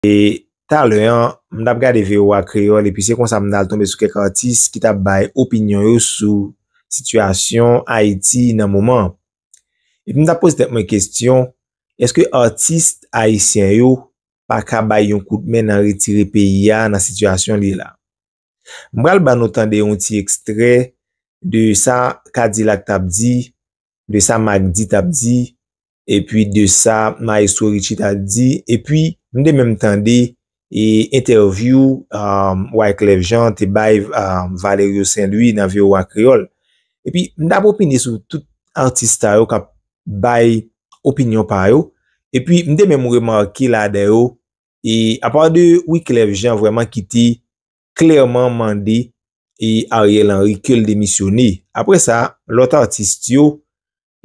E talè an, m t ap gade voa Kreyòl epi se konsa m t al tonbe sou kèk atis ki t ap bay opinyon yo sou sitiyasyon Ayiti nan moman an. Epi m t ap poze tèt mwen kesyon, èske atis ayisyen yo pa ka bay yon kout men nan retire peyi a nan sitiyasyon li la? M pral ban nou tande yon ti ekstrè de sa Kadilak t ap di, de sa Mak D t ap di, epi de sa Mayestwo Ritchi t ap di, epi m te menm tande entèvyou Wyclef Jean te bay Valerio Saint Louis nan voa Kreyòl. Epi m t ap opine sou tout atis sa yo k ap bay opinyon pa yo, epi m te menm remake ladan yo E apa de Wiclef Jean vreman ki te klerman mande e Ariel Henry ke l demisyone. Apre sa, lot artist yo,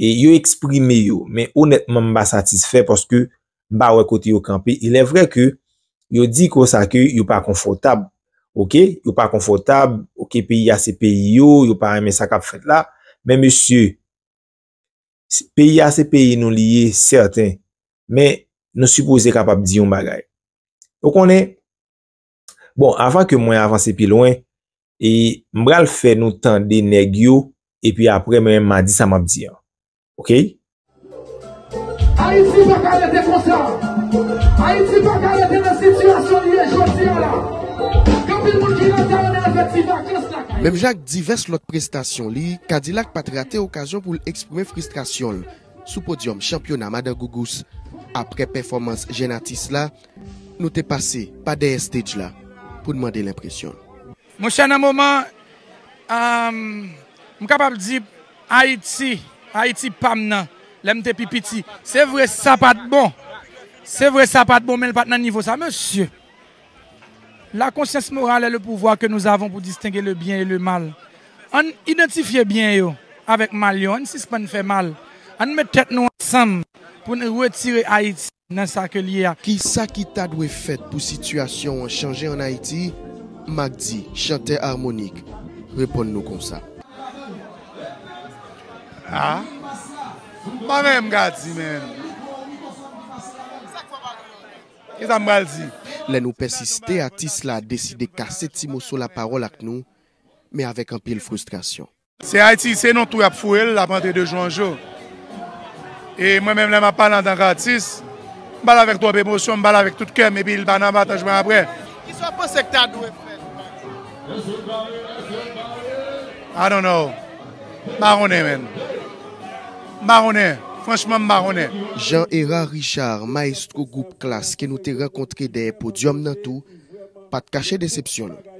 e yo eksprime yo. Men onetman m pa satisfe paske m pa we kote yo kanpe. Il e vre ke yo di ko sa ke yo pa konfotab. Ok, yo pa konfotab, ok peyi a se peyi yo, yo pa renmen sa kap fet la. Men mesye, Peyi a se peyi nou li ye sèten, men nou sipoze kapab di yon bagay. Ou konnen, bon, avan ke mwen avanse pi lwen, e m pral fè nou tande nèg yo, epi apre mwen menm m a di sa m ap di an. Okey? Ayiti pa ka rete konsa. Ayiti pa ka rete nan sitiyasyon li ye jodi a la. Gen anpil moun ki rete yo nan efektif vakans lakay yo. Menm jan ak divès lòt prestasyon li, Kadilak pa t rate okazyon. okazyon pou l eksprime fristrasyon l sou podyòm chanpyona Madan Gougous. Aprè pèfòmans jèn atis la, nou te pase pa dèyè stage la pou n mande l enpresyon l. Monchè nan moman an, m kapab di Ayiti, Ayiti pa m nan, lè m te pi piti. Se vre sa pa t bon, se vre sa pa t bon men l pa t nan nivo sa mesye. La conscience morale est le pouvoir que nous avons pour distinguer le bien et le mal. Ann idantifye byen yo avèk mal yo, ann sispann fè mal, ann met tèt nou ansanm pou n retire Ayiti nan sa ke l ye a. Kisa ki ta dwe fèt pou sitiyasyon an chanje an Ayiti? Macdy, chantè armonik, reponn nou konsa. A, m pa menm ka di menm. Kisa m pral di? Lè nou pèsiste atis la deside kase ti moso lapawòl ak nou men avèk anpil fristrasyon. Se Ayiti se nan twou y ap foure l l ap antre de jou an jou e mwen menm lè m ap pale antank atis m pale avèk twòp emosyon m pale avèk tout kè m epi l pa nan pataj mwen aprè. Kisa w panse k ta dwe fèt? I don't know. Mpa konnen menn. Mpa konnen. Franchman mpa konnen. Jean Herard Richard, maestro gwoup Klass ke nou te rankontre dèyè podyòm nan tou, pa t kache desepsyon l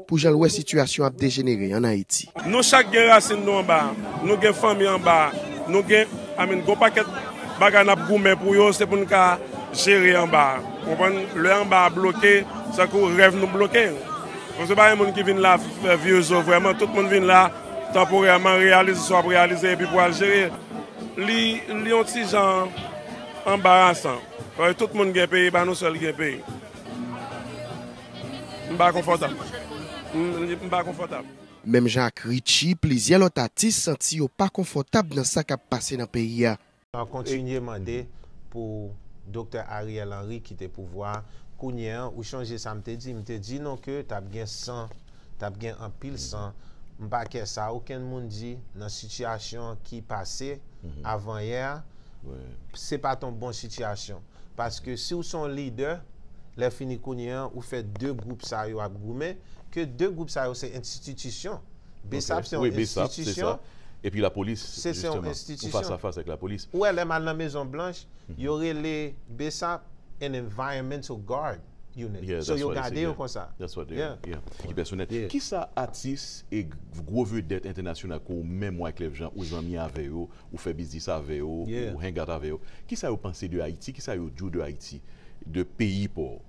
pou jan l wè sitiyasyon ap dejenere an Ayiti. Nou chak gen rasin nou anba a, nou gen fanmi anba a, nou gen I mean gon pakèt bagay nap goumen pou yo se pou n ka jere anba a. Ou konprann? Lè anba a bloke, se tankou rèv nou bloke. Bon se pa yon moun ki vin la fè vye zo vrèman, tout moun vin la tanporèman, reyalize sa w ap reyalize epi pou al jere. Li yon ti jan anbarasan, paske tout moun gen peyi, e pa nou sèl ki gen peyi. M pa konfòtab. M pa konfòtab. Menm jan ak Richie, plizyè lòt atis santi yo pa konfòtab nan sa k ap pase nan peyi a. N ap kontinye mande pou Doktè Ariel Henry kite pouvwa a. Kounye an, ou chonje sa m te di? M te di nou ke t ap gen san, t ap gen anpil san. M pa kè sa okenn moun di nan sitiyasyon ki pase avanyè a, se pa t yon bon sitiyasyon. Paske si w se yon lidè, lè fini kounye an, ou fè de gwoup sa yo ap goumen, ke de gwoup sa yo se entititisyon. Bsap se yon enstitisyon. Epi la polis jisteman. Ou fas a fas ak la polis. Ou wè lè m al nan mezon blanch, yo rele bsap an environmental guard unit. So yo gade yo konsa. Kisa atis e gwo vedèt entènasyonal ke ou menm Wyclef Jean ou zanmi avè yo, ou fè biznis avè yo, ou hang out avè yo, kisa yo panse de Ayiti, kisa yo di w de Ayiti, de peyi pa w?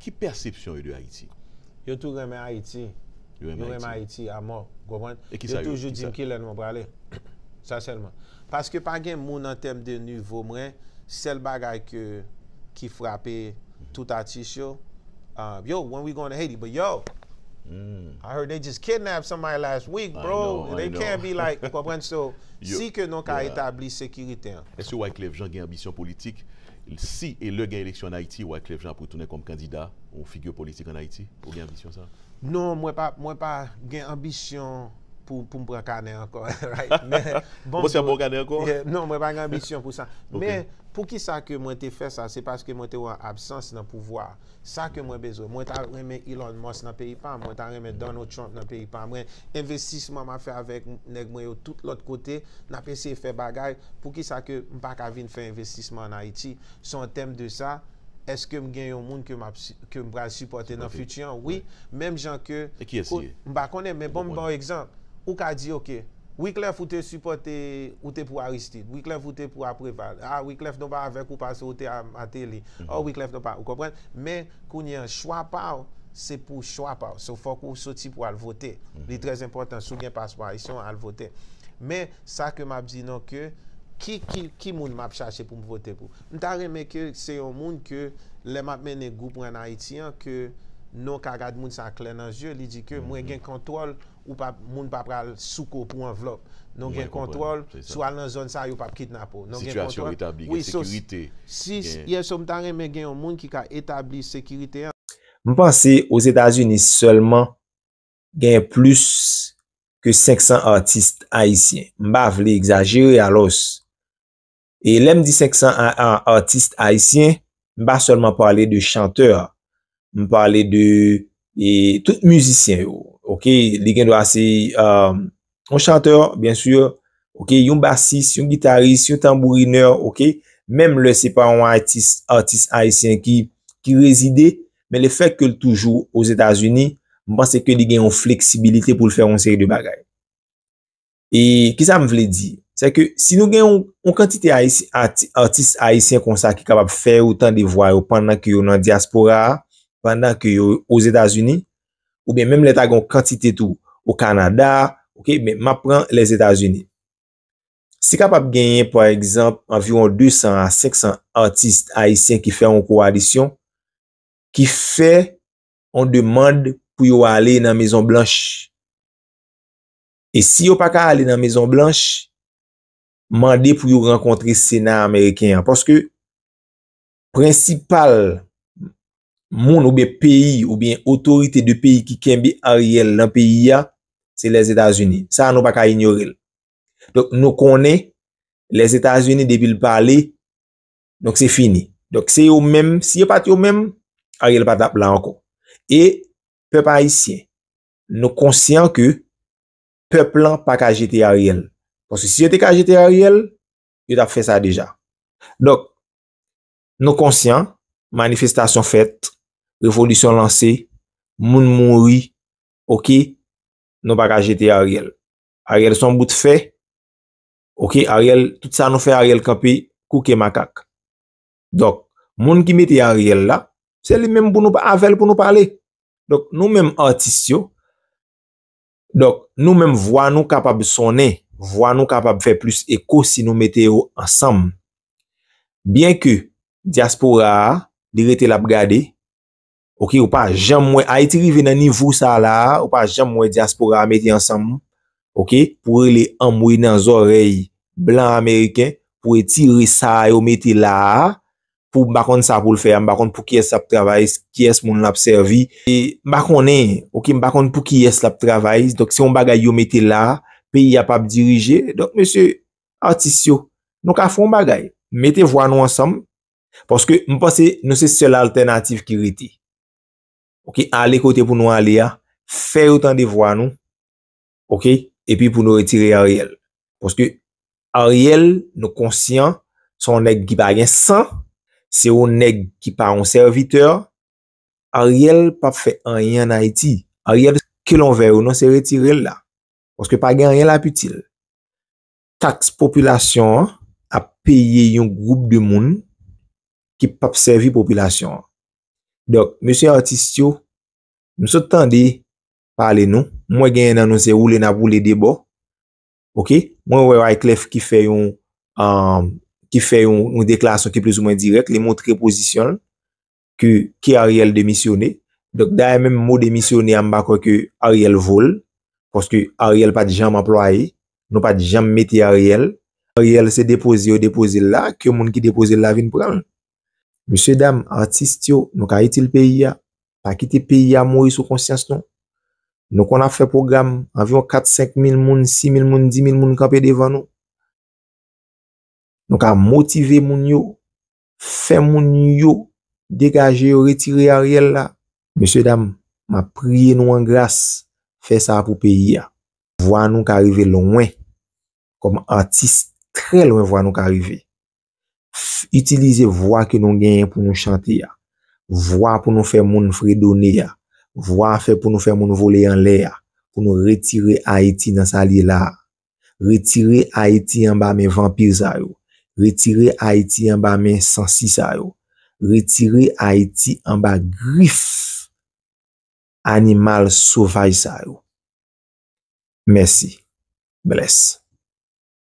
Ki pèsepsyon yo de Ayiti? Yo tou renmen Ayiti. Yo renmen Ayiti amò. Ou konprann? Yo toujou di m ki lè nou prale. Sa sèlman. Paske pa gen moun an tèm de nivo mwen, sèl bagay ke ki frape tout atis yo, Yo, when we going to Haiti? But yo! I heard they just kidnapped somebody last week, bro! They can't be like, ou konprann? So, si ke nou ka etabli sekirite an. Èske Wyclef Jean gen anbisyon politik? Si e lè gen eleksyon an Ayiti, Wyclef Jean ap retounen kòm kandida ou figure politik an Ayiti? Ou gen anbisyon sa? Non, mwen pa, mwen pa gen anbisyon pou, pou m pran kanè ankò, right? Men, bon Ou pa pran kanè ankò? Yeah, non, mwen pa gen anbisyon pou sa. Men, poukisa ke mwen te fè sa? Se paske mwen te wè yon absans nan pouvwa a. Sa ke mwen bezwen. Mwen ta renmen Elon Musk nan peyi pam. Mwen ta renmen Donald Trump nan peyi pam. Mwen envestisman map fè avèk nèg mwen yo tout lòt kote. Nap eseye fè bagay. Poukisa ke m pa ka vin fè envestisman an Ayiti? So an tèm de sa, eske m gen yon moun ke map ke m pral sipòte nan fiti an? Wi. Menm jan ke E kiyès li ye? M pa konnen men bon m baw egzanp. Ou ka di ok. Wiclef ou te sipote ou te pou Aristide wiclef ou te pou a preval ah wiclef nou pa avek ou pase ou te a mateli oh wiclef nou pa ou konprann men kounye an chwa paw se pou chwa paw so fok ou soti pou al vote li trè enpotan si w gen paspo ayisyen w al vote men sa ke map di nou ke ki ki ki moun map chache pou m vote pou m ta renmen ke se yon moun ke lè map mennen group mwen an ayiti an ke nou ka gad moun sa klè nan zye li di ke mwen gen kontwòl ou pap moun pa pral sou kou pou anvlòp. Nou gen kontwòl, si w al nan zòn sa a yo pap kidnape w. Sitiyasyon an retabli, gen sekirite. Si, yè so m ta renmen gen yon moun ki ka etabli sekirite an. M panse Ozetazini sèlman genyen plis ke 500 atis ayisyen. M pa vle egzajere alòs E lè m di 501 atis ayisyen, m pa sèlman pale de chantè, m pale de e tout mizisyen yo. Ok, li gen dwa se yon euh, chantè, byen sur, ok, yon basis, yon gitaris, yon tanbourinè, ok, menm lè se pa yon atis, atis ayisyen ki ki rezide, men le fèk ke l toujou o Zetazini, m panse ke li gen yon fleksibilite pou l fè yon seri de bagay. E ki sa m vle di? Se ke si nou gen yon kantite atis ayisyen konsa ki kapab fè ou tan de vwa yo pandan ke yo nan diaspora, pandan ke yo o Zetazini, ou ben menm lè ta gen yon kantite tou o Kanada, ok, men ma pran lè Zetazini. Si kapab genyen, pa egzanp, anviron 200 a 500 atis ayisyen ki fè yon koalisyon, ki fè yon demand pou yo ale nan Mezon Blanch. E si yo pa ka ale nan Mezon Blanch, mande pou yo rankontre Sena Ameriken an. Paske, prensipal moun oube peyi oube otorite de peyi ki kenbe Ariel nan peyi a, se Lè Zetazini. Sa a nou pa ka inyore l. Donk nou konnen, Lè Zetazini depi l pale, donk se fini. Donk se yo menm, si yo pat yo menm, Ariel pa tap la ankon. E, pèp Ayisyen, Nou konsyan ke pèp lan pa ka jete Ariel. Paske si yo te ka jete Ariel, yo tap fè sa deja. Donk, nou konsyan, manifestasyon fèt, revolisyon lanse, moun mouri, ok, nou pa ka jete Ariel. Ariel son bout fè, ok, Ariel, tout sa nou fè Ariel kanpe, kouke makak. Donk, moun ki mete Ariel la, se li menm pou nou pa avèl pou nou pale. Donk, nou menm atis yo, donk, nou menm vwa nou kapab sonnen, vwa nou kapab fè plis eko si nou mete yo ansanm. Byen ke, diaspora a, li rete lap gade, Ok ou pa janm wè Ayiti rive nan nivo sa la a ou pa janm wè diaspora a mete ansanm ok pou rele anmwey nan zòrèy blan ameriken pou retire sa a yo mete la a pou m pa konn sa pou l fè a m pa konn pou kiyès l ap travay kiyès moun l ap sèvi e m pa konnen ok m pa konn pou kiyès l ap travay donk se yon bagay yo mete la a peyi a p ap dirije donk mesye atis yo nou ka fè yon bagay mete vwa nou ansanm Paske m panse nou se sèl altènatif ki rete. Ok, ale kote pou nou ale a, fè yo tande vwa nou, ok, epi pou nou retire Ariel. Paske Ariel nou konsyan se yon nèg ki pa gen san, se yon nèg ki pa yon sèvitè, Ariel pa fè anyen an Ayiti. Ariel se kilon vè yo, nou se retire l la. Paske pa gen anyen l ap itil. Taks popilasyon an ap peye yon gwoup de moun ki p ap sèvi popilasyon an. Donk, mesye atis yo, m sot tande pale nou, m wè genyen nan nou se woule n ap woule de bò, ok, mwen wè Wyclef ki fè yon, ki fè yon deklarasyon ki plis ou mwen dirèk, li montre pozisyon l, ke ke Ariel demisyone donk dayè menm mo demisyone a m pa kwè ke Ariel vo l paske Ariel pat janm anplwaye nou pat janm mete Ariel Ariel se depoze yo depoze l la ke moun ki depoze l la vin pran l mesye dam atis yo nou ka itil peyi a pa kite peyi a mouri sou konsyans nou nou konn ap fè pwogram anviwon 4 5 mil moun 6 mil moun 10 mil moun kanpe devan nou nou ka motive moun yo fè moun yo degaje yo retire Ariel la. Mesye dam map priye nou an gras fè sa pou peyi a vwa nou ka rive lwen kòm atis trè lwen vwa nou ka rive itilize vwa ke nou genyen pou nou chante a vwa pou nou fè moun fredone a vwa fè pou nou fè moun vole anlè a pou nou retire ayiti nan sa li ye la. Retire Ayiti anba men vanpir sa yo. Retire Ayiti anba men sansi sa yo. Retire Ayiti anba grif animal sovaj sa yo. Mèsi. Bless.